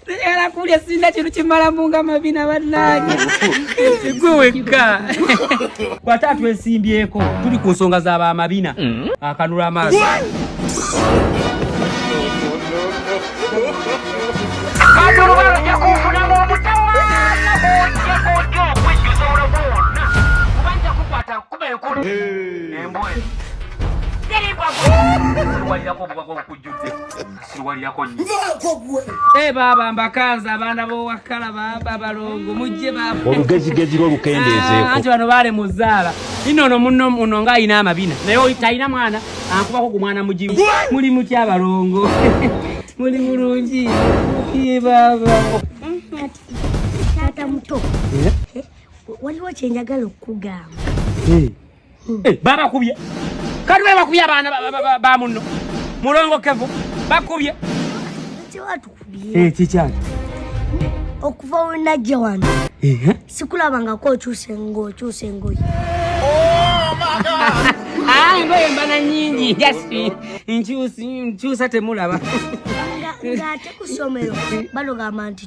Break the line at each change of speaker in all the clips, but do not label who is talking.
era kulya sirina kintu kimalamu nga mabina bannange gwe wekka kwata twesimbyeko tuli ku nsonga za bamabina mm. akanula amaaso kuba enkulu embwa eno siruwalirako obubaka obukujjudde siruwalirako eh, baaba mbakanza abaana b'owakkala baaba balongo mujje baaba olugezigezi lwo
lukendeezeeko ah, anti bano baale mu
zzaala ino ono muno muno nga alina amabina naye talina mwana ankubako ku mwana mugimu muli muty abalongo muli mulungi baaba mm, taata
muto eh? waliwo kyenjagala okukugamba eh. hmm. eh,
babakubye kati be bakubye abaana ba munno mulongo kevu bakubye kikyaki
okuva wenajja wano sikulabangako okyuse ngaokyuse engoye oh, ah,
engoye mbana nyingi jasi nkyusa temulaba
ngate kusomero balogamba nti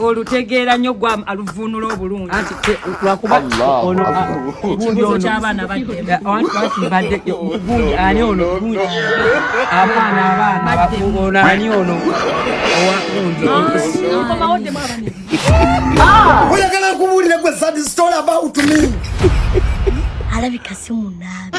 olutegeera nnyo gwa aluvuunula obulungi
lwakubakibuuzo
ky'abaana
baddegundi ani ono abaana abaana ani ono owakundi
oyagala
nkubuulire
gwe sad story about
me
alabika
si
munaabi